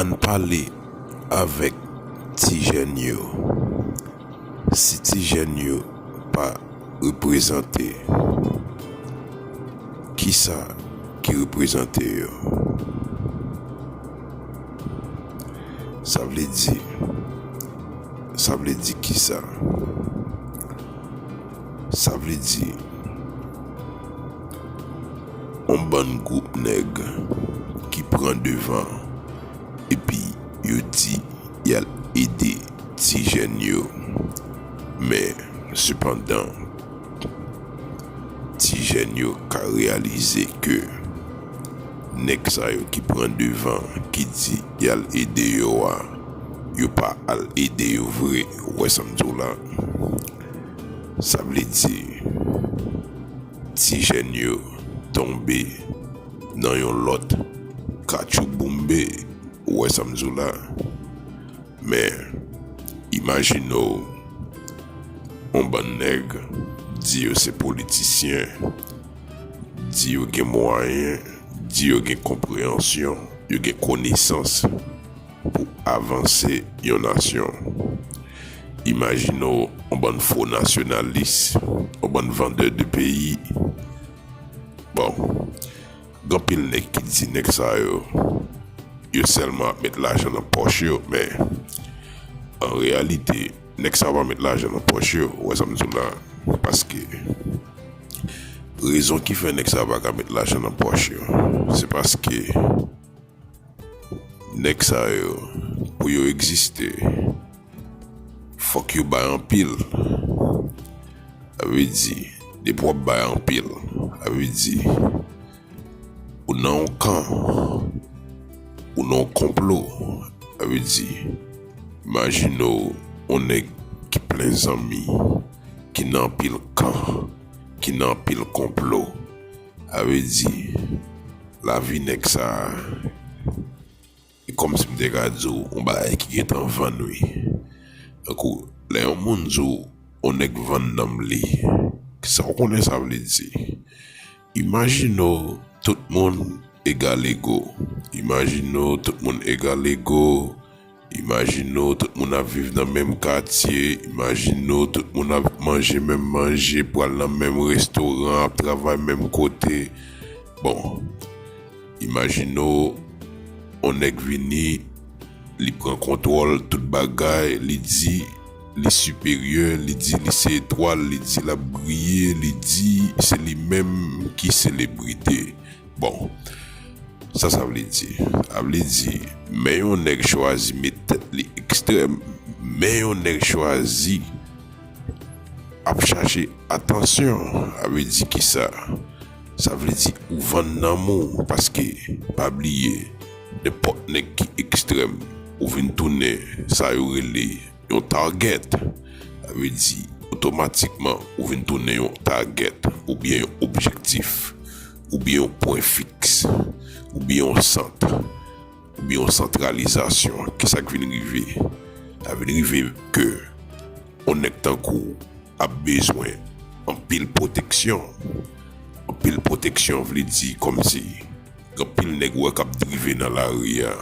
Ann pale avèk ti jèn yo. Si ti jèn yo pa reprezante, kisa ki reprezante yo? Sa vle di, sa vle di kisa? Sa vle di. yon bann gwoup nèg ki pran devan epi yo di y al ede ti jèn yo men sepandan ti jèn yo ka reyalize ke nèg sa yo ki pran devan ki di y al ede yo a yo pa al ede yo vre ou wè sa m di w la sa vle di. Ti jèn yo tonbe nan yon lòt katchouboumbe, ou wè sa m di w la. Men, imajine w yon bann nèg di yo se politisyen, di yo gen mwayen, di yo gen konpreyansyon, yo gen konesans. pou avanse yon nasyon. Imajine w yon bann fo nasyonalis, yon bann vandè de peyi. Bon, gen anpil nèg ki di nèg sa yo, yo sèlman ap met lajan nan pòch yo men, an reyalite, nèg sa yo pa met lajan nan pòch yo, ou wè sa m di w la a. Paske, rezon ki fè nèg sa yo pa ka met lajan nan pòch yo, se paske. Nèg sa yo pou yo egziste fòk yo bay anpil sa vle di depi wap bay anpil sa vle di ou nan yon kan ou nan yon konplo sa vle di imajine w yon nèg ki plen zanmi ki nan anpil kan ki nan anpil konplo. A vle di, lavi nèg sa a, e kòmsi m te ka di w yon bagay ki gentan vann wi. Tankou, lè yon moun di w yon nèg vann nanm li, sa w konnen sa vle di? Imajine w tout moun egalego, imajine w tout moun egalego. Imajine w tout moun ap viv nan menm katye, imajine w tout moun ap manje menm manje, pral nan menm restoran, ap travay menm kote. Bon, imajine w yon nèg vini, li pran kontwòl tout bagay, li di li siperyè, li di li se etwal, li di l ap briye, li di se li menm ki selebrite. Bon, sa sa vle di? A vle di, men yon nèg chwazi met tèt li ekstrèm, men yon nèg chwazi ap chache atansyon. A vle di ki sa? Sa vle di ou vann nanm ou paske pa bliye nenpòt nèg ki ekstrèm ou vin tounen sa yo rele. Yon target, sa vle di otomatikman ou vin tounen yon target oubyen yon objektif, oubyen yon pwen fiks, oubyen yon sant, oubyen yon santralizasyon. Ki sa k vin rive? Sa vin rive ke yon nèg tankou w ap bezwen anpil pwoteksyon. Anpil pwoteksyon vle di kòmsi gen anpil nèg ou wè k ap drive nan lari a.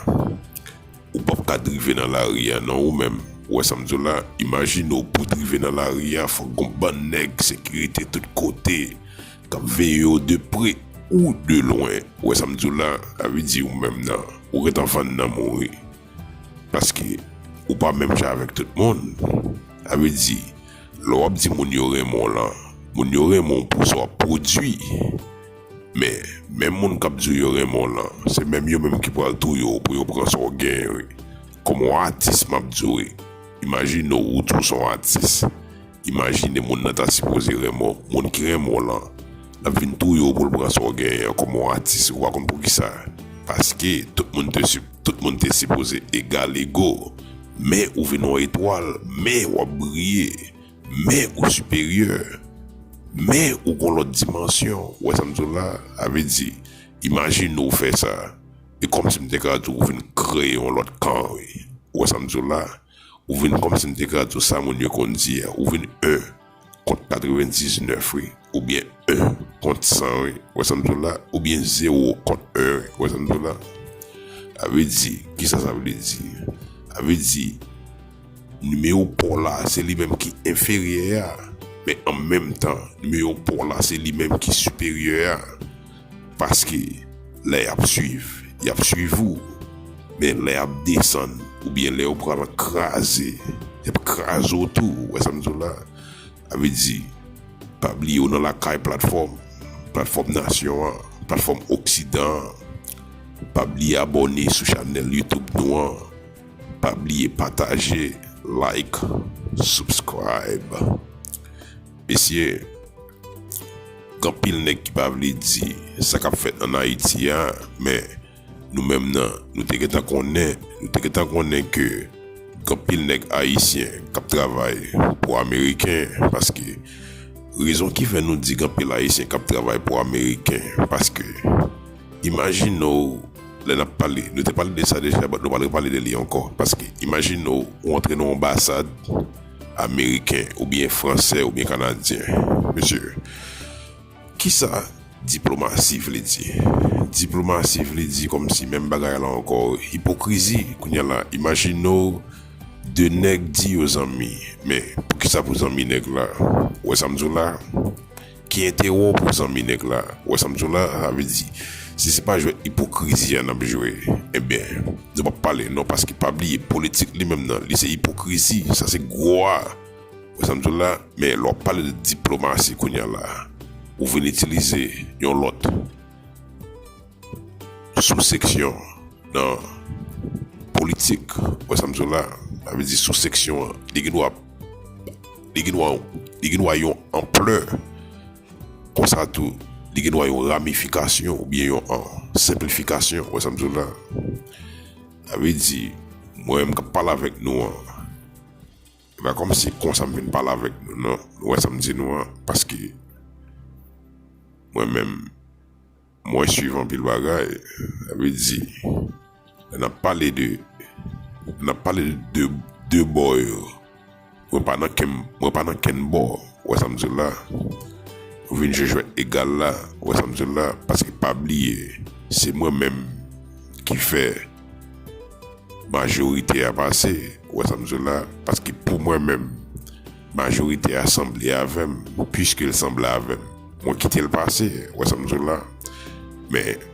Ou pap ka drive nan lari a non ou menm, ou wè sa m di w la, imajine w pou drive nan lari a fòk gon bann nèg sekirite tout kote k ap veye w de pre ou de lwen, ou wè sa m di w la, sa vle di ou menm nan ou gentan vann nanm ou wi paske ou pa menm jan avèk tout moun, sa vle di lè w ap di moun yo renmen w lan moun yo renmen w pou sa w ap pwodui. Men, menm moun k ap di w yo renmen w lan, se menm yo menm ki pral touye w pou yo pran sa w genyen wi. Kòm w on atis m ap di w wi, imajine w ou tou s on atis, imajine moun nan ta sipoze renmen w, moun ki renmen w lan, l ap vin touye w pou l pran sa w genyen an kòm on atis, ou pa konn poukisa? Paske, tout moun te si, tout moun te sipoze egal ego, men ou vin on etwal, men w ap briye. Men ou siperyè, men ou gon lòt dimansyon, ou wè sa m di w la? Sa vle di, imajine ou fè sa, e kòmsi m te ka di w ou vin kreye yon lòt kan wi. Ou wè sa m di w la? Ou vin kòmsi m te ka di w sa moun yo konn di a, ou vin 1 kont 99 wi. Ou byen 1 kont 100 wi, wè sa m diw la, ou byen 0 kont 1 wi, wè sa m diw la. A vle di, kisa sa vle di? A vle di, nimewo pa w la se li menm ki enferyè a, men an menm tan, nimewo pa w la se li menm ki siperyè a. Paske, lè y ap swiv, y ap swiv ou, men lè y ap desann, ou byen lè yo pral kraze, y ap kraze w tou, wè sa m diw la. Sa vle di, pa bliye ou nan lakay platfòm, platfòm nasyon an, platfòm oksidan an. Pa bliye abòne sou chanèl YouTube nou an. Pa bliye pataje, like, subscribe. Mesye, gen anpil nèg ki pa vle di sa k ap fèt an Ayiti a men Nou menm nan, nou te gentan konnen, nou te gentan konnen ke gen anpil nèg ayisyen k ap travay pou ameriken paske, rezon ki fè nou di gen anpil ayisyen k ap travay pou ameriken paske imajine w lè n ap pale, nou te pale de sa deja bat nou pral repale de li ankò paske imajine w ou antre nan yon anbasad ameriken oubyen fransè oubyen kanadyen mesye Kisa diplomasi vle di? Diplomasi vle di kòmsi menm bagay la ankò ipokrizi kounya la imajine w 2 nèg di yo zanmi men poukisa pou zanmi nèg la ou wè sa m di w la ki enterè w pou zanmi nèg la ou wè sa m di w la sa vle di si se pa jwèt ipokrizi a n ap jwe enben nou p ap pale non paske pa bliye politik li menm nan li se ipokrizi sa se gwo a. Wè sa m di w la? Men lè w ap pale de diplomasi kounya la, ou vin itilize yon lòt souseksyon nan politik. Wè sa m di w la? Sa vle di souseksyon an, li gen dwa, li gen dwa, li gen dwa yon anplè. Konsa tou, li gen dwa yon ramifikasyon oubyen yon senplifikasyon. Wè sa m di w la? Sa vle di, mwen menm k ap pale avèk nou an, Epa kòmsi konsa m vin pale avèk nou nan nou wè sam di nou an paske mwen menm mwen swiv anpil bagay sa vle di lè nap pale de lè nap pale de de bò yo mwen pa nan kem mwen pa nan kenn bò ou wè sam di w la nou vin jwe jwèt egal la ou wè sam di w la paske pa bliye se mwen menm ki fè. Majorite a pase, ou wè sa m di w la, paske pou mwen menm, majorite a sanble avè m, piske l sanble avè m, mwen kite l pase, ou wè sa m di w la. Men,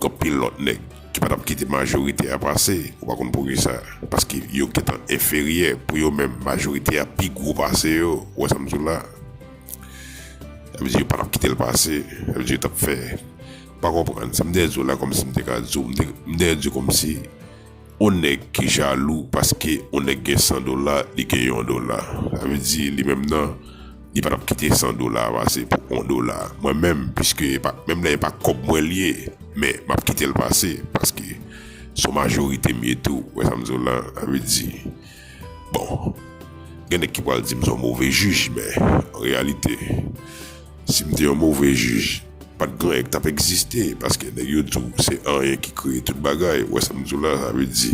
gen anpil lòt nèg ki pa t ap kite majorite a pase, ou pa konn poukisa, paske yo gen tan enferyè, pou yo menm, majorite a pi gwo pase yo, ou wè sa m di w la. Sa vle di yo pa t ap kite l pase, sa vle di yo t ap fè. Pa konprann sa m dèyè zo la kòmsi m te ka di w m te m dèyè di w kòmsi on nèg ki jalou paske on nèg gen 100 dola li gen yon dola sa vle di li menm nan li pa t ap kite 100 dola a pase pou on dola mwen menm piske e pa menm lè e pa kòb mwen li ye men m ap kite l pase paske s on majorite m ye tou ou wè sa m di w la sa vle di. Bon, gen nèg ki pral di m son move jij men an reyalite si m te yon move jij pat gen anyen ki tap egziste paske nèg yo di w se anyen ki kreye tout bagay ou wè sa m di w la sa vle di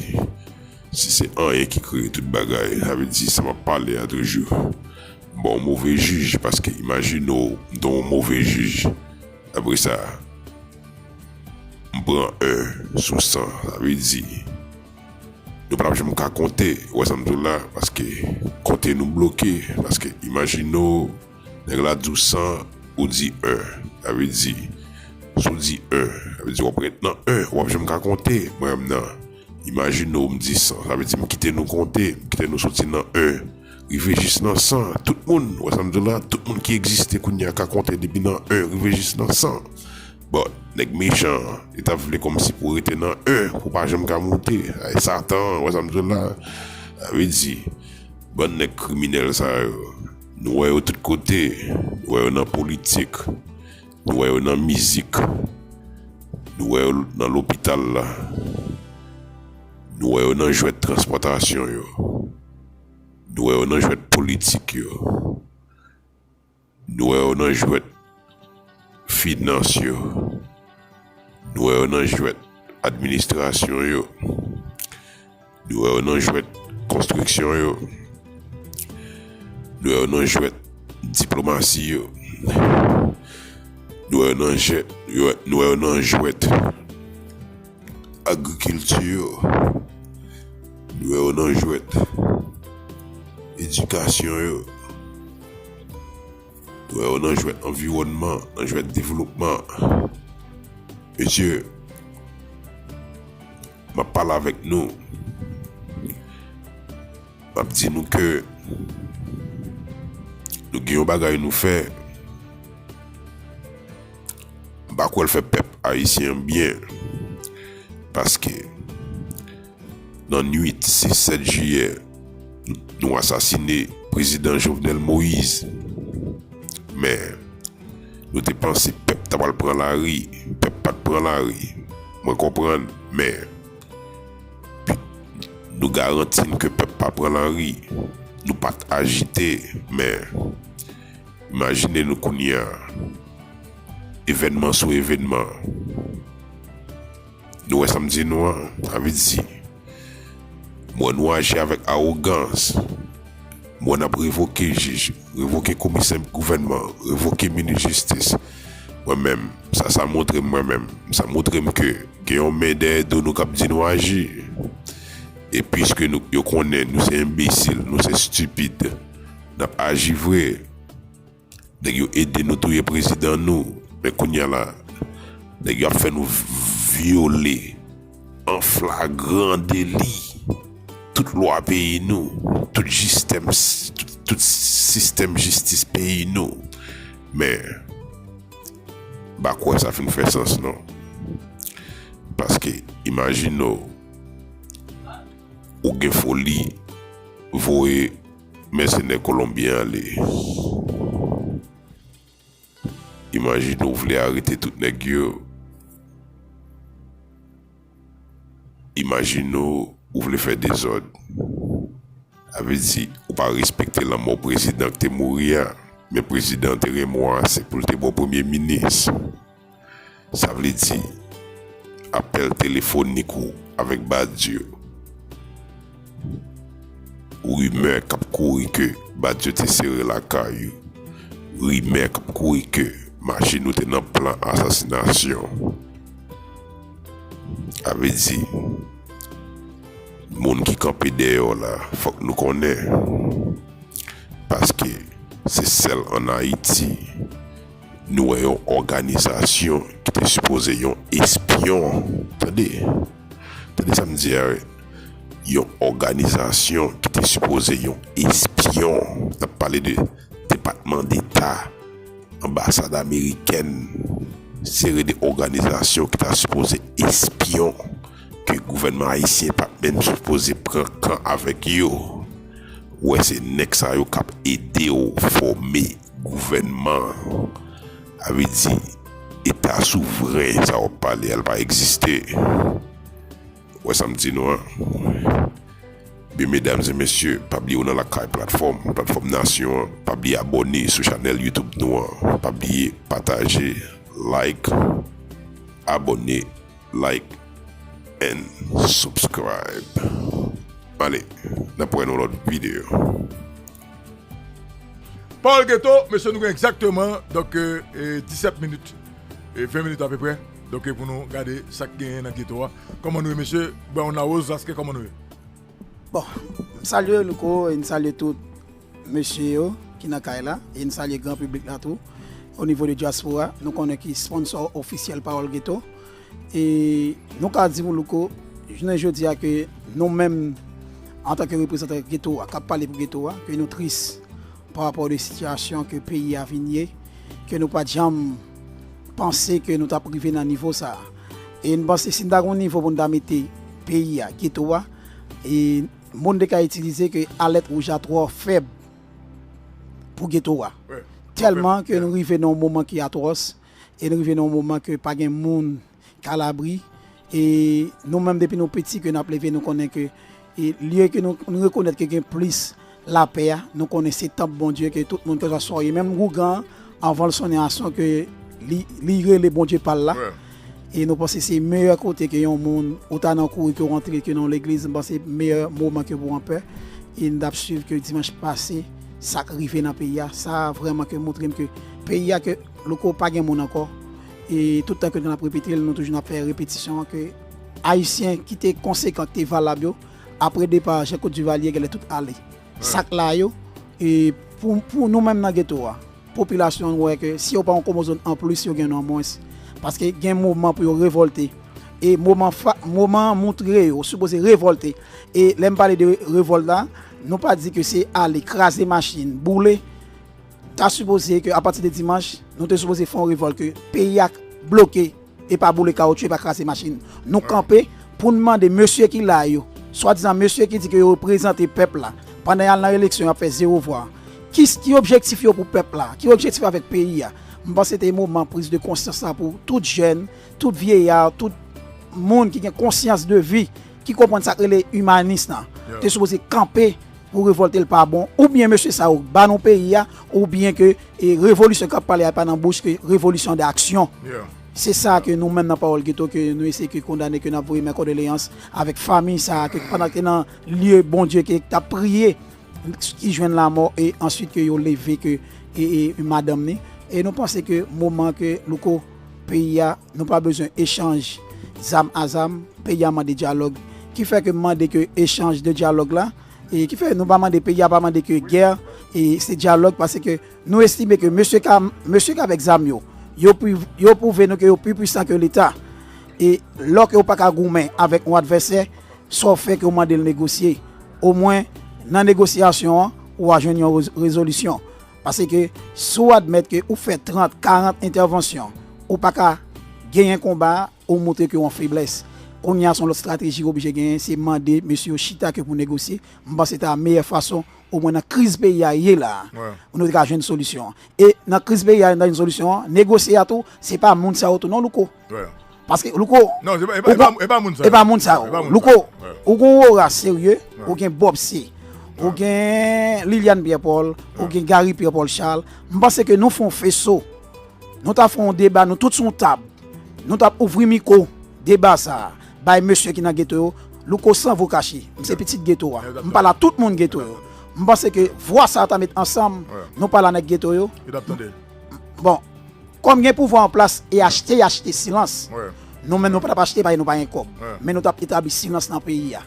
si se anyen ki kreye tout bagay sa vle di sa m ap pale a toujou m pa yon move jij paske imajine w m te yon move jij apre sa m pran 1 sou 100 sa vle di. Nou pa tap janm ka konte, ou wè sa m di w la, paske konte nou bloke, paske imajine w nèg la di w 100, ou di 1, sa vle di si w di 1, sa vle di w ap ret nan 1, ou pap janm ka konte, mwen menm nan, imajine w m di 100, sa vle di m kite nou konte, m kite nou soti nan 1 rive jis nan 100, tout moun, ou wè sa m di w la, tout moun ki egziste kounye a ka konte depi nan 1 rive jis nan 100. Bon nèg mechan an li tap vle kòmsi pou rete nan 1 pou pa janm ka moute ay satan wè sam diw la sa vle di bann nèg kriminèl sa yo nou wè yo tout kote nou wè yo nan politik nou wè yo nan mizik nou wè yo nan lopital la nou wè yo nan jwèt transpòtasyon yo nou wè yo nan jwèt politik yo. Nou wè yo nan jwèt finans yo, nou wè yo nan jwèt administrasyon yo, nou wè yo nan jwèt konstriksyon yo, nou wè yo nan jwèt diplomasi yo, nou wè yo nan jwèt. Agrikilti yo dwe yo nan jwèt, edikasyon yo dwe yo nan jwèt, anviwònman an nan jwèt, devlopman an. Mesye, m ap pale avèk nou. M ap di nou ke nou gen yon bagay nou fè, m pa kwè l fè pèp ayisyen an byen, paske nan nwit 6, 7 jiyè nou asasine prezidan Jovenel Moise, men nou te panse pèp ta pral pran lari, pèp pa t pran lari, mwen konprann men. Nou garanti n ke pèp pa pran lari. Nou pa t ajite, men, imajine nou kounye a, evènman sou evènman. Nou wè sa m di nou an? Sa vle di, m wè nou aji avèk awogans. M wè n ap revoke jij. revoke komisè gouvènman revoke minis jistis mwen menm sa sa moutrem mwen menm sa moutrem ke gen yon men dèyè do nou kap di nou aji e piske nou yo konnen nou se enbesil nou se stipid nap aji vre nèg yo ede nou touye prezidan nou men kounya la nèg yo ap fè nou vyole. An flagran deli, tout lwa peyi nou, tout jistèm, tout sistèm jistis peyi nou. Men, m pa kwè sa fin fè sans non. Paske imajine w, ou gen foli voye mèsenè kolonbyen ale. Imajine ou vle arete tout nèg yo Imajine ou vle fè dezòd Sa vle di ou pa respekte lanmò prezidan k te mouri a Men prezidan an te renmen w ase pou l te ba w premye minis Sa vle di, apèl telefonik ou avèk Badio. Rimè k ap kouri ke Badio te sere lakay ou. Rimè k ap kouri ke machin ou te nan plan asasinasyon. Sa vle di, moun ki kanpe dèyè w la, fòk nou konnen. Paske, se sèl an Ayiti. Nou wè yon òganizasyon ki te sipoze yon espyon, tande, tande sa m di a wi, yon òganizasyon ki te sipoze yon espyon, n ap pale de Depatman Deta, Anbasad Amerikèn, seri de òganizasyon ki ta sipoze espyon, ke gouvènman ayisyen pa t menm sipoze pran kan avèk yo, wè se nèg sa yo k ap ede w fòme Gouvènman, sa vle di eta souvren sa wap pale a li pa egziste. Ou wè sam di nou an? Ebyen medam e mesye pa bliye ou nan lakay platfòm, platfòm nasyon an, pa bliye abòne sou chanèl youtube nou an, pa bliye pataje, like, abòne, like and subscribe. Ale nap wè nan lòt videyo. Paul Geto, mesye nou gen egzakteman donk 17 minit, 20 minit apeprè, donk pou nou gade sa k genyen nan geto a. Kòman nou ye mesye? Brown Larose Vlasque kòman nou ye? Bon, m salye w Louko e m salye tout mesye yo ki nan kay la e m salye gran piblik la tou. Onivo de dyaspora, nou konnen ki sponsò ofisyèl Pawòl Geto. E nou ka di pou Louko, jounen jodi a ke nou menm antanke reprezantan geto a, k ap pale pou geto a, ke nou tris pa rapò de sitiyasyon ke peyi a vin ye, ke nou pa t janm panse ke nou t ap rive nan nivo sa a. E nou panse si nou ta gen yon nivo pou nou ta mete peyi a, geto a, e mo nou te ka itilize ke alèt wouj la twò fèb pou geto a. Tèlman ke nou rive nan yon moman ki atwòs. e n rive nan yon moman ke pa gen moun k alabri e nou menm depi nou piti ke n ap leve nou konnen ke lye ke nou rekonèt ke gen plis lapè a nou konnen se tanp Bondye ke tout moun kèlkaswa w ye menm ougan an anvan l sonnen ason ke li rele Bondye pa l la e nou panse se meyè kote ke yon moun ou ta nan kouri ke w antre ke nan yon legliz m panse meyè moman ke pou w anpè e n t ap swiv ke dimanch pase sa k rive nan peyi a sa vrèman ke moutre m ke peyi a ke Louko pa gen moun ankò e tout tan ke nou ap repete l nou toujou nan fè repetisyon an ke ayisyen ki te konsekan ki te valab yo apre depa Jean Claude Duvalier genlè tout ale sak la yo e pou nou menm nan geto a popilasyon an wè ke si yo pa yon komozon an plis yo gen yon an mwens paske gen moman pou yo revòlte e moman moman an moutre yo sipoze revòlte e lè m pale de revòlte la nou pa di ke se ale kraze machin boule. Ta sipoze ke apati de dimanch, nou te sipoze fè yon revòl ke peyi a bloke e pa boule kawotchou e pa kraze machin. Nou kanpe pou n mande mesye ki la yo, swadizan mesye ki di ke yo reprezante pèp la, pandan y al nan eleksyon y ap fè zewo vwa, ki objektif yo pou pèp la, ki objektif yo avèk peyi a. M panse te moman priz de konsyans la pou tout jèn, tout vyeya, tout moun ki gen konsyans de vi, ki konprann sa k rele imanis la, te sipoze kanpe Pou revolte l pa bon ou byen mesye sa yo k ba nou peyi a ou byen ke revolisyon kap pale a e pa nan bouch ke revolisyon de aksyon. Se sa ke nou menm nan pawòl geto ke nou eseye ke kondane ke nap voye mè kòdoleyans avèk famiy sa a ke pandan ke nan lye Bondye ke tap priye ki jwenn lamò e answit ke yo leve ke e madanm ni e nou panse ke moman ke louko peyi a Nou pa bezwen echanj zam a zam, peyi a mande dyalòg, ki fè ke m mande ke echanj de dyalòg la, e ki fè nou pa mande, peyi a pa mande ke gè, e se dyalòg pase ke nou estime ke mesye ka, mesye k'avèk zam yo, yo pi, yo pwouve nou ke yo pi pwisan ke leta, e lò ke ou pa ka goumen avèk yon advèsè, sa w fè ke ou mande l negosye, o mwen nan negosyasyon an ou a jwenn yon rezolisyon. Pase ke si w admèt ke ou fè 30, 40 entèvansyon, ou pa ka genyen konba a, ou montre ke w an feblès. Kounye a se yon lòt estrateji ou oblije genyen, se mande mesye yo chita ke pou negosye. M panse ta meyè fason, omwen nan kriz peyi a ye la a, pou nou te ka jwenn solisyon an. E nan kriz peyi a, nan jwenn solisyon an, negosye a tou, se pa moun sa yo tou non Louko. Paske louko e pa moun sa yo. Louko ou gen yon ora serye, ou gen Bob C, ou gen Liliane Pierre Paul, ou gen Garry Pierre Paul Charles. M panse ke nou fè yon feso. Nou ta fè yon deba nou tout sou yon tab. Nou ta ouvri miko deba sa a bay mesye ki nan geto yo. Louko san vo kache. M se pitit geto a. M pale a tout moun geto yo. M panse ke vwa sa yo ta met ansanm. Nou pale a nèg geto yo. Bon. Kòm gen pouvwa an plas e achte y achte silans. Nou menm nou pa t ap achte paske nou pa gen kòb. Men nou t ap etabli silans nan peyi a.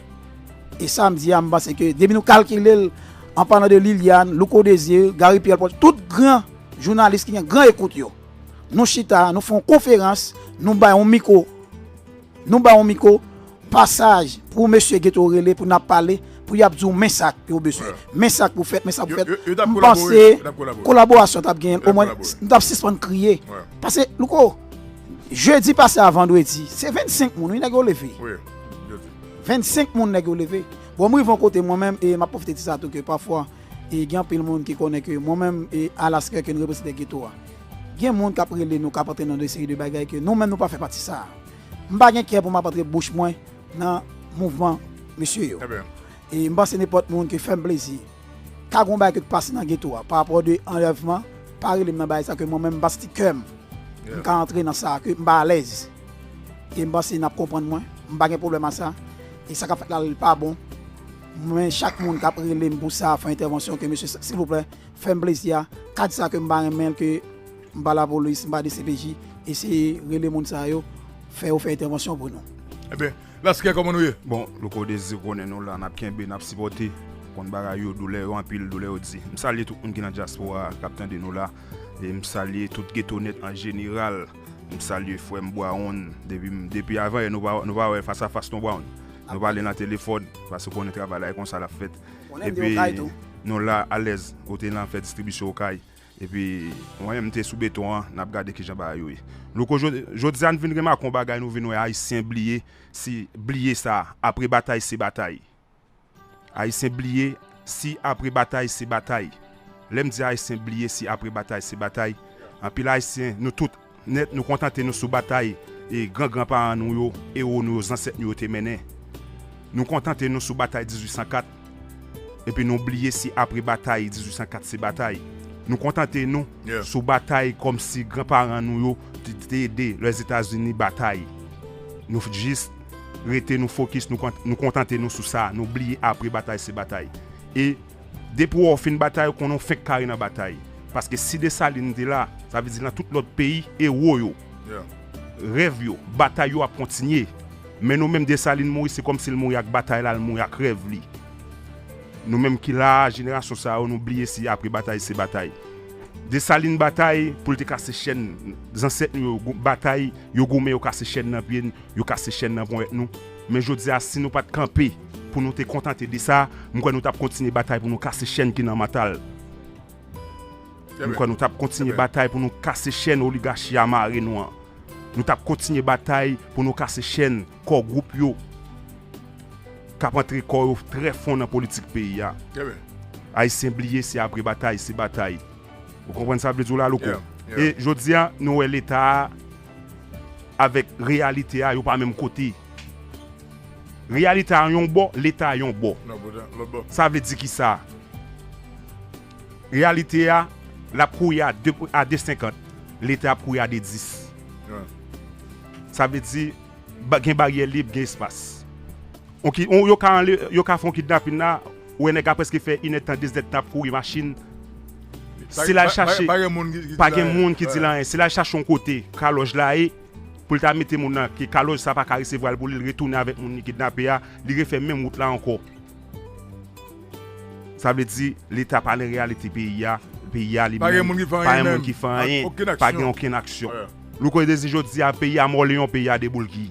E sa m di a m panse ke depi nou kalkile l an palan de Liliane, Louko Desir, Garry Pierre Paul, tout gran jounalis ki gen gran ekout yo. Nou chita, nou fè yon konferans, nou bay yon miko. Nou ba ou miko pasaj pou ou mesye gete ou rele pou nap pale pou yap di ou men sa ke ou beswen men sa ke ou fèt men sa ke ou fèt m panse kolaborasyon tap genyen o mwen nou tap sispann kriye pase louko jedi pase a vandredi se 25 moun wi nèg yo leve 25 moun nèg yo leve bon m rive yon kote mwen menm e map pwofite di sa tou ke pafwa e gen anpil moun ki konnen ke mwen menm e alas kè ke nou reprezante geto a. Gen moun kap rele nou kap antre nan de seri de bagay ke nou menm nou pa fè pati sa. M pa gen kè pou map antre bouch mwen nan mouvman mesye yo. E m panse nenpòt moun ke fèm plezi ka gon bagay ke k pase nan geto a parapò de anlèvman pa rele m nan bagay sa ke mwen menm m pa santi kèm m ka antre nan sa ke m pa alèz. E m panse nap konprann mwen. M pa gen pwoblèm a sa. E sa kap fèt la li pa bon. Mwen chak moun kap rele m pou sa fè entèvansyon ke mesye silvouplè Fèm plezi a Kad sa kem pa renmenl ke m pa lapolis m pa dcpj eseye rele moun sa yo fè yo fè entèvansyon pou nou. Ebyen laskè koman nou ye. Bon louko dezi ou konnen nou la nap kenbe nap sipòte konn bagay yo doulè yo anpil doulè yo di m salye tout moun ki nan dyaspora kap tande nou la e m salye tout geto nèt an jeneral m salye frèm Bwaronn depi m depi avan yè nou pa nou pa wè fas a fas non Bwaronn nou pale nan telefòn paske konnen travay la e konsa lap fèt. Epi nou la alèz kote nan fè distribisyon okay epi mwen menm mte sou beton an nap gade kijan bagay yo ye louko jodia n vin remake yon bagay nou vin wè ayisyen bliye si bliye sa apre batay se batay ayisyen bliye si apre batay se batay lèm di ayisyen bliye si apre batay se batay anpil ayisyen nou tout Nèt, nou kontante nou sou batay gran gran paran nou yo, ewo nou yo, zansèt nou yo te mennen. Nou kontante nou sou batay 1804, epi nou bliye si apre batay 1804 se batay. Nou kontante nou sou batay kòm si gran paran nou yo te ede Lèzetazini batay. Nou jis rete nou fokis, nou kontante nou sou sa, nou bliye apre batay se batay. E. Depi wè w fin batay ou konnen w fenk kare nan batay paske si Dessalines te la sa vle di nan tout lòt peyi ewo yo, rèv yo, batay yo ap kontinye men nou menm Dessalines mouri se kòmsi l mouri ak batay la l mouri ak rèv li nou menm ki la a jenerasyon sa yo nou bliye si apre batay se batay Dessalines batay pou l te kase chèn zansèt nou yo batay yo goumen yo kase chèn nan pye n yo kase chèn nan ponyèt nou. Men jodi a si nou pat kanpe pou nou te kontante de sa, m kwè nou tap kontinye batay pou nou kase chèn ki nan mantal. M kwè nou tap kontinye batay pou nou kase chèn oligachi a mare nou an. Nou tap kontinye batay pou nou kase chèn kò gwoup yo kap antre kò yo trè fon nan politik peyi a. Ayisyen bliye se apre batay se batay. Ou konprann sa m vle di w la Louko? E jodi a nou wè leta a. avèk reyalite a yo pa menm kote. Reyalite a yon bò, leta yon bò. Sa vle di kisa? Reyalite a l ap kouri a 2,50, leta ap kouri a 2,10. Sa vle di gen baryè lib, gen espas. Yo ka fè yon kidnapin la. Ou wè nèg la preske fè inèd tan deznèd tan ap kouri machin se lal chache pa gen moun ki dil anyen se lal chache yon kote kalòj la ye poul ta mete moun nan ke kalòj sa paka resevwal pou lil retounen avèk moun li kidnape a li refè menm wout la ankò sa vle di leta pa nan reyalite peyi a peyi a li menm pa gen moun ki fè anyen pa gen okenn aksyon louko dezi jodi a peyi a mòleyon peyi a deboulgi.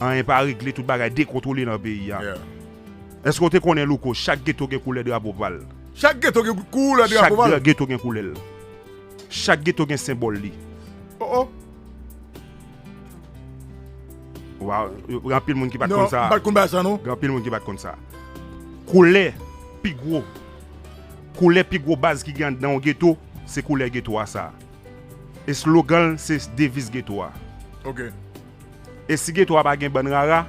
Anyen pa regle tout bagay dekontwole nan peyi a Eske w te konnen Louko chak geto gen koulè drapo pa l Chak geto gen koulè drapo pa l Chak geto gen koulè l Chak geto gen senbòl li Oh oh Waww Gen anpil moun ki pa t konn sa Non m pa t konn bagay sa non Gen anpil moun ki pa t konn sa Koulè pi gwo Koulè pi gwo baz ki gen anndan yon geto Se koulè geto a sa. Eslogan l se deviz geto a. E si geto a pa gen bann rara,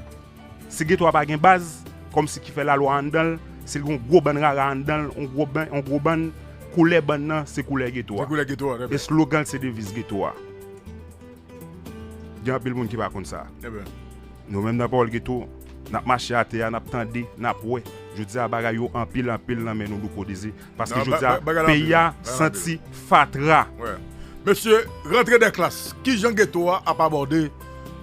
si geto a pa gen baz, kòmsi ki fè lalwa anndan l, si l gen yon gwo bann rara anndan l, yon gwo bann, koulè bann nan se koulè geto a. Eslogan l se deviz geto a. Gen anpil moun ki pa konn sa. Nou menm nan Pawòl Geto, n ap mache atè a, n ap tande, n ap wè. Jodi a bagay yo anpil anpil nan men nou douko dizi. Paske jodia peyi a santi fatra. Mesye rantre dè klas kijan geto a ap abòde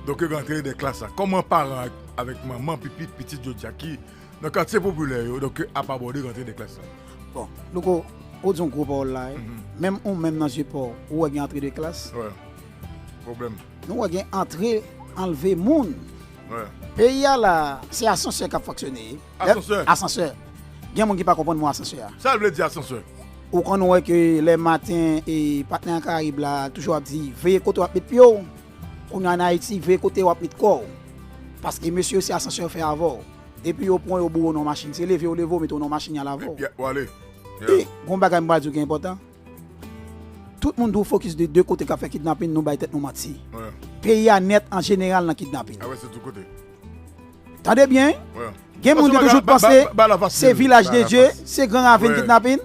doke rantre dè klas la kòman paran avèk manman pipi pitit jodia ki nan katye popilè yo doke ap abòde rantre dè klas la. Bon louko ou di yon gwo pawòl la wi menm ou menm nan zye paw ou wè gen antre de klas nou wè gen antre anlve moun peyi a la se asansè kap fonksyone. Asansè. Asansè. Gen moun ki pa konprann mo asansè a. Sa l vle di asansè? Ou konn wè ke lè maten e patnè an karayib la toujou ap di veye kote wap met pye w. Kounye an ayiti veye kote wap met kò w. Paske mesye yo se asansè yo fè avè w. Depi yo pran w yo boure w nan yon machin. Se leve yo leve w, mete w nan yon machin y al avè w. Epi w ale. E gen yon bagay m pral di w ki enpòtan. Tout moun dwe fokis de de kote k ap fè kidnapin nou bay tèt nou manti. Peyi a nèt an jeneral nan kidnapin. Avè se tout kote. Tande byen, gen moun ki toujou panse se vilaj de Dye, se gran ravin kidnapin.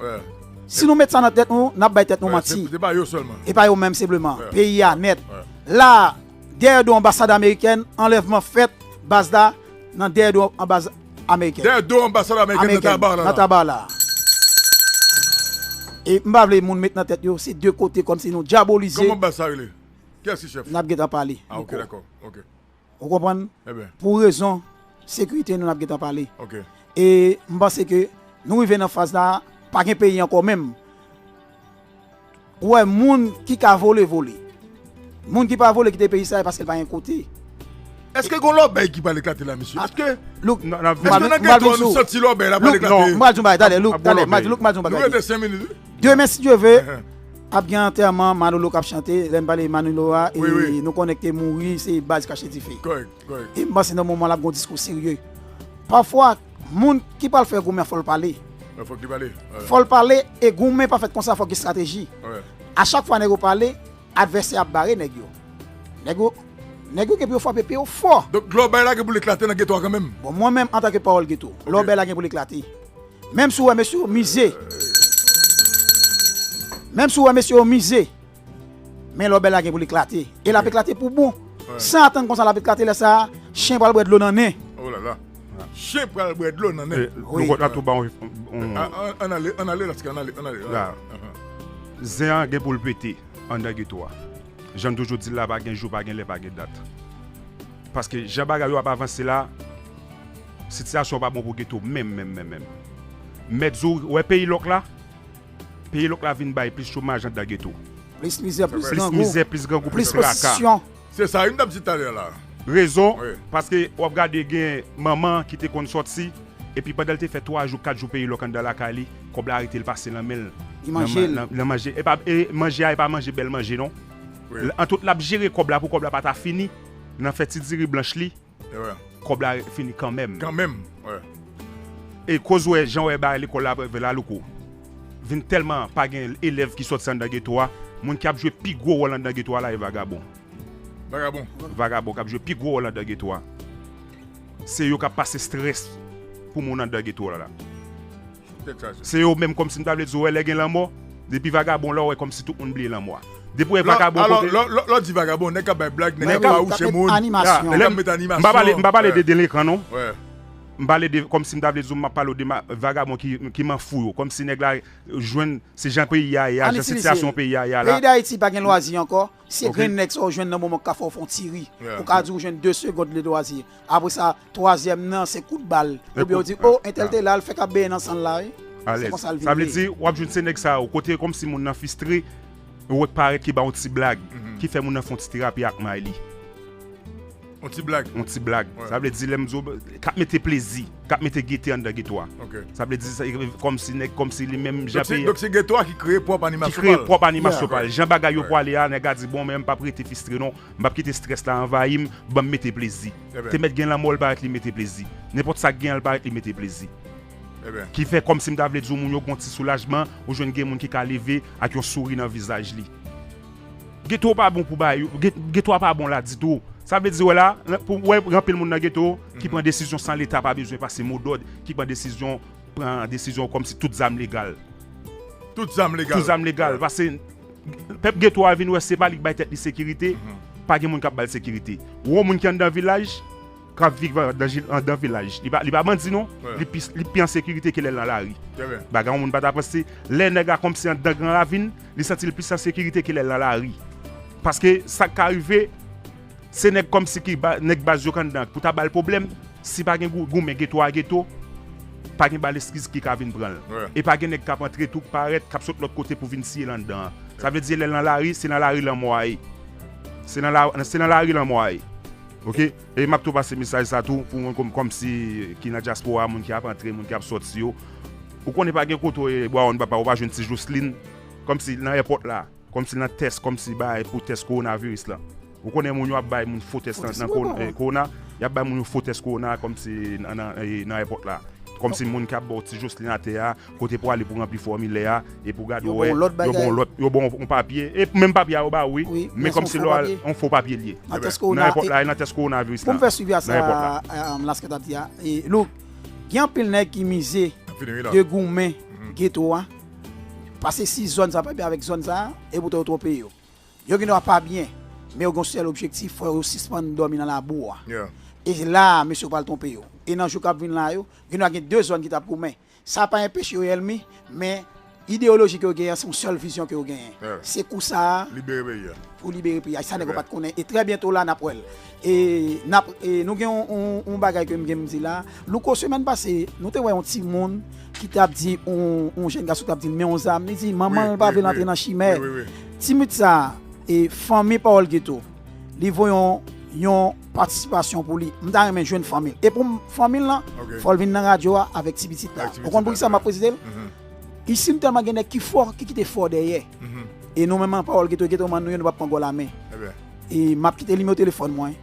Si nou met sa nan tèt nou, n ap bay tèt nou manti. E pa yo menm senpleman, peyi a nèt. La a, dèyè do anbasad amerikèn, anlèvman fèt, baz la nan dèyè do anbaz amerikèn. Dèyè do anbasad amerikèn nan Tabar la. Nan Tabar la. E m pa vle moun met nan tèt yo se de kote kòmsi nou dyabolize. Kòman baz sa rele? Kiyès ki chèf? N ap gentan pale. A ok dakò, ok. Ou konprann? Pou rezon sekirite nou n ap gentan pale. E m panse ke nou rive nan faz la a, pa gen peyi ankò menm. Ou wè moun ki ka vole, vole. Moun ki pa vole kite peyi sa a e paske l pa gen kote. Eske gen yon lòbèy ki pral eklate la mesye? Eske nan geto a nou santi lòbèy la pral eklate? Louk, m pral di yon bagay. Tande, m pral di yon bagay. Nou rete senk minit wi. Demen si Dieu veut ap gen antèman Manolo kap chante, lèm pale Manolo a nou konnen li te mouri se baz kache dife. Em panse nan moman lap gen yon diskou serye. Pafwa moun ki pral fè goumen an fòl pale. Fòl pale e goumen pa fèt konsa fòk gen strateji. A chak fwa nèg yo pale advèsè ap bare nèg yo. Nèg yo Nèg yo gen pou yo frape pye yo fò. Donk lè w bay la gen pou l eklate nan geto a kanmenm? Bon mwen menm antanke pawòl geto, lè w bay la gen pou l eklate. Menm si w wè mesye yo mize Menm si w wè mesye yo mize Men lò bèl la gen pou l eklate E l ap eklate pou bon San atann konsa l ap eklate Lè sa a chen pral bwè dlo nan nen Olala Chen pral bwè dlo nan nen Lokòt la tou ba w Ann ale Ann ale Lasky Ann ale Ann ale La Zen an gen pou l pete Anndan geto a Jan n toujou di l la Pa gen jou Pa gen lè Pa gen dat Paske jan bagay yo ap avanse la Sitiyasyon pa bon pou Geto menm menm menm menm. Mèt zo ou wè peyi lòk la? Peyi lòk la vin bay plis chomaj anndan geto. Plis mizè, plis grangou. Plis mizè, plis grangou, plis traka. Se sa wi m t ap di talè la. Rezon, paske w ap gade gen manman ki te konn sòti, epi pandan l te fè 3 jou, 4 jou peyi lòk anndan lakay li, kòb la rete l pase nan men l. Li manje l. Nan manje. E pa, e manje a e pa manje bèl manje non. Antout l ap jere kòb la pou kòb la pa ta fini nan fè ti diri blanch li. Kob la fini kanmenm. Kanmenm wi. E koz ou wè jan wè bagay lekòl la ap la louko. Vin tèlman pa gen elèv ki sòti anndan geto a, moun ki ap jwe pi gwo wòl anndan geto a la e vagabon. Vagabon. Vagabon kap jwe pi gwo wòl anndan geto a. Se yo kap pase strès pou moun anndan geto a la. Se yo menm kòmsi m ta vle di wè lè gen lanmò depi vagabon la w wè kòmsi tout moun bliye lanmò a depi w wè vagabon kote Lè w di vagabon nèg k ap bay blag nèg k ap fawouche moun nèg k ap met animasyon M pa pale de delekan non m pale de kòmsi m ta vle di w m ap pale w de vagabon ki manfou yo kòmsi nèg la jwenn se jan peyi a ye a jan sitiyasyon peyi a ye a la. Peyi Dayiti pa gen lwazi ankò. Se grenn nèg sa ou jwenn nan moman ou ka fè ou fon ti ri, ou ka di ou jwenn 2 segond ledwazi. Apre sa, twazyèm nan se kout bal. Oubyen ou di, oh entèl te la al fè kap benyen nan san l la wi. Se konsa l vin ye. Sa vle di, wap jwenn se nèg sa yo, kote kòmsi moun nan fistre, wè k parèt ki ba yon ti blag, ki fè moun nan fon ti terapi ak may li. On ti blag. On ti blag. Sa vle di lèm zo kap mete plezi, kap mete gete anndan geto a. Ok. Sa vle di kòmsi nèg kòmsi li menm jan peyi. Donk se geto a ki kreye pwòp animasyon pa l. Ki kreye pwòp animasyon pa l. Jan bagay yo pwale a, nèg la di bon men m pap rete fistre non. M pap kite strès la anvayi m, banm mete plezi. Te mèt gen lanmò l parèt li mete plezi. Nenpòt sa gen an l parèt li mete plezi. Ki fè kòmsi m ta vle di w moun yo gon ti soulajman, ou jwenn gen moun ki ka leve ak yon souri nan vizaj li. Geto pa bon pou bay, geto a pa bon la ditou. Sa vle di wè la, pou wè gen anpil moun nan geto ki pran desizyon san leta pa bezwen pase mo dòd, ki pran desizyon, pran desizyon kòm si tout zam legal. Tout zam legal. Tout zam legal. Pase pèp geto a vin wè se pa li ki bay tèt li sekirite, pa gen moun k ap ba l sekirite. Wè yon moun ki anndan vilaj. Kap viv andan vilaj. Li pa bandi non. Li pi an sekirite ke lè l nan lari. Bagay yon moun pa ta panse. Lè nèg la kòmsi andan gran ravin, li santi l plis an sekirite ke lè l nan lari. Paske sa k ka rive, se nèg kòmsi ki nèg baz yo k anndan pou ta ba l pwoblèm. Si pa gen goumen geto a geto, pa gen bal eskiz ki ka vin pran l. E pa gen nèg k ap antre tou k parèt, k ap sot lòt kote pou vin siye l anndan an. Sa vle di lè l nan lari, se nan lari lanmò a ye. Se nan lari lanmò a ye. Ok e map tou pase mesaj sa tou pou moun komsi ki nan dyaspora moun ki ap antre moun ki ap soti yo ou konnen pa gen kote ou ye bawon papa ou pa jwenn ti joslin komsi nan èpòt la komsi nan tès komsi bay pou tès kowona viris lan ou konnen moun yo ap bay moun fo tès nan kowona yap bay moun yo fo tès kowona komsi nan èpòt la komsi moun ki ap baw ti joslin atè a Kote pou ale pou ranpli fòmilè a epi ou gade ou wè yo ba w lòt yo ba w yon papye e menm papye a yo ba w wi men kòm se yon fo papye li ye nan tès kowonaviris la nan tès kowonaviris la pou m fè swivi a sa Lasky t ap di a Luc gen anpil nèg ki mize de goumen geto a pase si zòn sa pa byen avèk zòn sa e poutan yo twonpe yo yo gen dwa pa byen men yo gen yon sèl objektif fò yo sispann dòmi nan labou a e la a mesye yo pral twonpe yo e nan jou k ap vin la yo gen dwa gen de zòn ki t ap goumen. Sa pa enpeche yo èlmi, men ideyoloji ke yo genyen an, se yon sèl vizyon ke yo genyen. Se kou sa a pou libere peyi a. Se sa nèg yo pat konnen. E trè byento la, n ap wè l. E nou gen yon bagay ke m gen m di la. Louko, semèn pase, nou te wè yon timoun ki t ap di yon jenn gason ki t ap di l men yon zam. Li di manman l pa vle l antre nan chimè. Timid sa a, fanmi Pawòl Geto. li vo yon yon patisipasyon pou li. M ta renmen jwenn fanmi l. E pou fanmi l lan, fò l vin nan radyo a avèk ti pitit la. Ou konn poukisa m ap prezise l? Isi m tèlman gen nèg ki fò, ki kite fò dèyè. E nou menm an pawòl geto geto man nou yo nou pa pran gòl amè. E m ap kite nimewo telefòn mwen.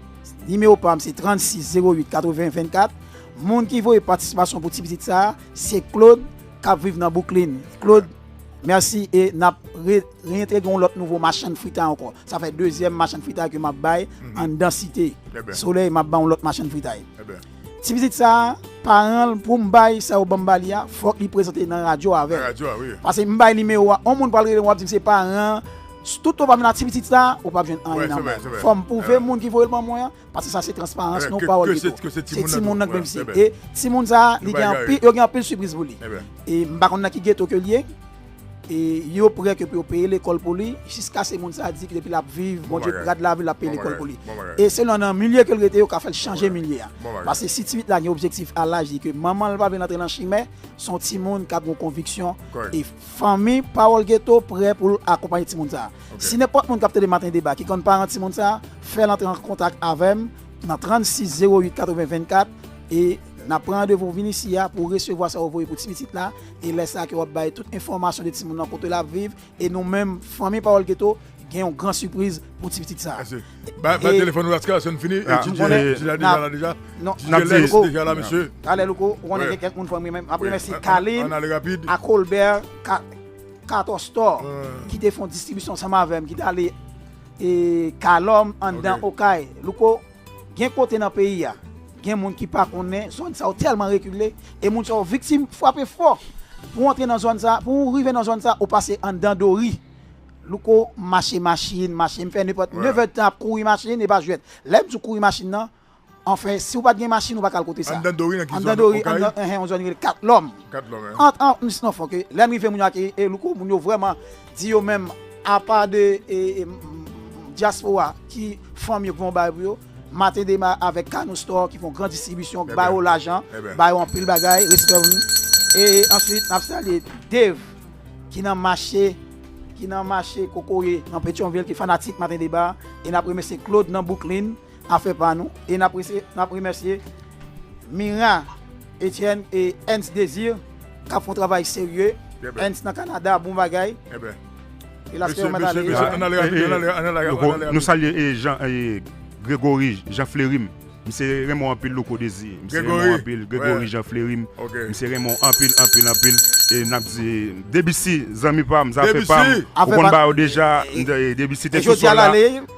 Nimewo pa m se 36 08 80 24. Moun ki voye patisipasyon pou ti pitit sa a, se Claude k ap viv nan Bouklin. Claude. Merci e nap reintegre yon lot nouvo machann fritay anko. Sa fè dezyèm machann fritay ke map bay mhm. anndan site. Eh Soley map bay yon lot machann fritay. Eh Ti pitit sa paran pou m bay sa yo banm ba li a, fòk li prezante nan radyo avè. Pase m bay nimewo a, on moun pral rele wap di m se paran. Tout ou pa vin a ti pitit sa, ou pa vin anyen nan mwen. Fòm pouve moun ki voye l ban mwen an, Paske sa se transparans nou pawòl Guy to. Se timoun nan k benfisye. E timoun sa li gen anpil yo gen anpil sipriz pou li. E m pa konn nan ki geto ke l ye. E yo prè ke pou yo peye lekòl pou li jiskase moun sa di ke depi l ap viv Bondye rad lavi l ap peye lekòl pou li. E selon nan milye ke l rete yo ka fè l chanje milye a. Paske si ti pit la gen objektif a laj li ke manman l pa vle l antre nan chimè se yon timoun k ap gen yon konviksyon e fanmi pawòl geto prè pou l akonpaye timoun sa. Si nenpòt moun k ap tande Maten Deba ki konn paran timoun sa, fè l antre an kontak avè m nan 36 08 80 24 e n ap pran randevou ou vin isi a pou ou resevwa sa ou voye pou ti pitit la e lè sa a ke w ap bay tout enfòmasyon de timoun nan kote l ap viv e nou menm fanmi Pawòl Geto gen yon gran sipriz pou ti pitit sa a. Mèsi. Bay bay telefòn ou Laskar san n fini e ti dye ti la deja la deja. Non, ti dye lès deja la mesye. Talè Louko, ou konnen gen kèk moun fò m remè m ap remèsye Kalin ak Olbè ka. Cator Store ki te fon distribisyon ansanm avèm ki tale Calom anndan okay Louko gen kote nan peyi a gen moun ki pa konnen zòn sa yo tèlman rekile e moun sa yo viktim fwape fò pou antre nan zòn sa pou ou rive nan zòn sa ou pase anndan dori Louko mache machin mache m fè nepòt 9 èdtan ap kouri machin e pa jwèt lèm di w kouri machin nan Anfen, si ou pa t gen machin ou pa ka al kote sa. Anndan Dori nan ki zòn? Okay. Anndan Dori, enhen, yon zòn yo rele Kat Lòm. Kat Lòm, enhen. Ant an, misnon fon ke lè m rive moun yo akeyi e Louko, moun yo vrèman di yo menm apa de dyaspora ki fanmi yo ki fon bagay pou yo, Maten Dema avèk Kano Store ki fon gran distribisyon, ki ba yo lajan, ba yo anpil bagay, respè pou nou. E answit n ap salye Dave ki nan mache, ki nan mache Kokoye nan Petyonvil ki fanatik Maten Deba e n ap remèsye Claude nan Bouklin Afè pa nou e n ap remèsye Mira Etienne e Ernst Desir k ap fè yon travay serye. Ernst nan Kanada, bon bagay. Nou salye Gregory Jean Flery, misye renmen w anpil Louko Desir. Gregory Jean Flery, misye renmen w anpil anpil anpil. E n ap di Debussy zanmi pa m, zafè pa m, ou konn ba yo deja. Debussy te sou sòl la.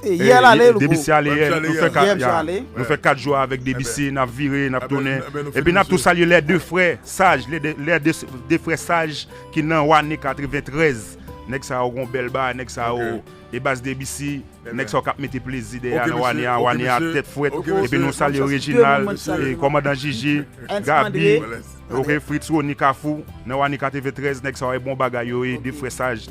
E yè l ale l gou. Debisi ale yè nou fè 4 ya nou fè 4 jou avèk debisi nap vire nap tounen epi nap tou salye lè 2 frè saj lè 2 frè saj ki nan wane 93 nèg sa yo gon bèl bagay nèg sa yo e baz debisi nèg sa yo kap mete plezi dèyè a nan wane a wane a tèt frèt epi nou salye rejinal e kòmandan jiji gabi ok frits roni kafou nan wane 93 nèg sa yo e bon bagay yo ye 2 frè saj.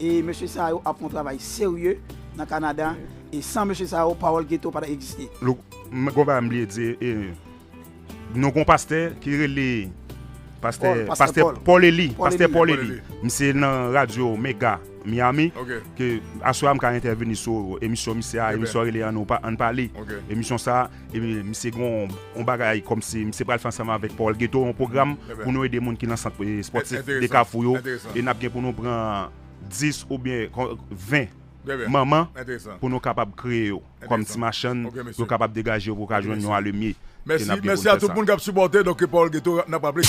E mesye sa yo ap fè yon travay serye nan Kanada e san mesye sa yo pawòl geto pa ta egziste. Look m gon bagay m bliye di e non gon pastè ki rele pastè pastè Paul Eli pastè Paul Eli misye nan radyo mega Miami ke aswè a m ka entèveni sou emisyon misye a emisyon an rele ann pale emisyon sa. Misye gen yon bagay kòmsi misye pral fè ansanm avèk Paul Getho yon pwogram pou nou ede moun ki nan sant espòtif de Kafou yo e n ap gen pou nou pran 10 oubyen 20 manman pou nou kapab kreye yo kòm ti machann yo kapab degaje yo pou yo ka jwenn yon alemye e n ap gen pou nou fè sa. Mèsi a tout moun k ap sipòte nou ke Paul Getho n ap raple.